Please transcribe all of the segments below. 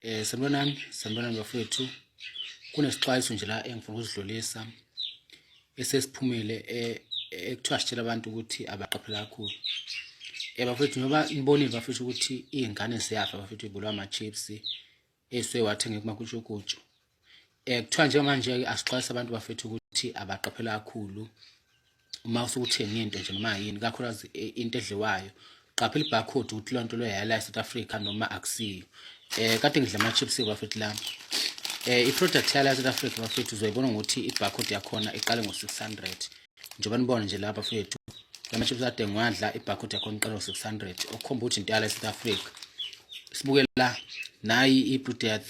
Eh sanibonani, sanibonani bafowethu. Kunesixwayiso nje la engifuna ukuzidlulisa esesiphumile eh, ekuthiwa sitshela abantu ukuthi abaqaphela kakhulu. Eh bafowethu ngoba nibonile bafowethu ukuthi izingane ziyafa bafowethu ibulwa ama chips eswe wathenga kumakutshukutshu. eh kuthiwa njengamanje ke asixwayisa abantu bafethu ukuthi abaqaphela kakhulu uma usukuthenga into nje noma yini kakhulukazi eh, into edliwayo qaphela ibarcode ukuthi leyo nto leyo yala eSouth Africa noma akusiyo eh kade ngidla ama chips bafethu la eh iproduct yala eSouth Africa bafethu uzoyibona ngokuthi ibarcode yakhona iqale ngo 600 njengoba nibona nje lapha bafethu lama chips ade ngiwadla ibarcode yakhona iqale ngo 600 okukhomba ukuthi into yala eSouth Africa sibukela nayi iproduct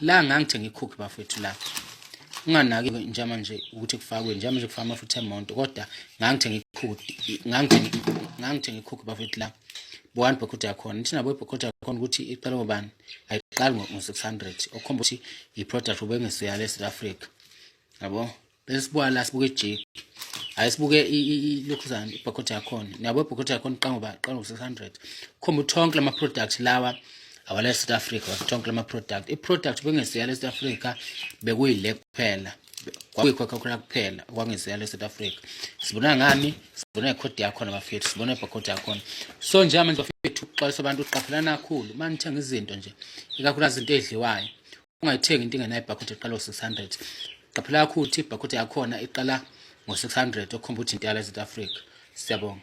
la ngangithenga ikhukhi bafethu la unganaki njama nje ukuthi kufakwe njama nje kufaka amafutha emonto kodwa ngangithenga ikhukhi ngangithenga ngangithenga ikhukhi bafethu la bowani bhokhoda yakhona thina boy bhokhoda yakhona ukuthi iqala ngobani ayiqali ngo-600 okhomba ukuthi i-product ubengesuyala e-south africa yabo Besibuka la sibuke ijiki. Hayi sibuke ilokhuzana ibhokotha yakhona. Niyabo ibhokotha yakhona iqanga ba qanga 600. Khomba uthonke lama products lawa awala South Africa wathonke lama product. I product bengeseya le South Africa bekuyile kuphela. Kwakuyikho khona kuphela kwangeseya le South Africa. Sibona ngani? Sibona ikhodi yakho nabafethu, sibona ibhokotha yakho. So nje manje bafethu uxwayisa abantu uqaphelana kakhulu. Manithenga izinto nje. Ikakhulu izinto ezidliwayo. ungayithengi into ingenayo ibhakhodi eqala ngo-600 qaphela kakhulu ukuthi ibhakhodi yakhona iqala ngo-600 okhomba ukuthi intela south africa siyabonga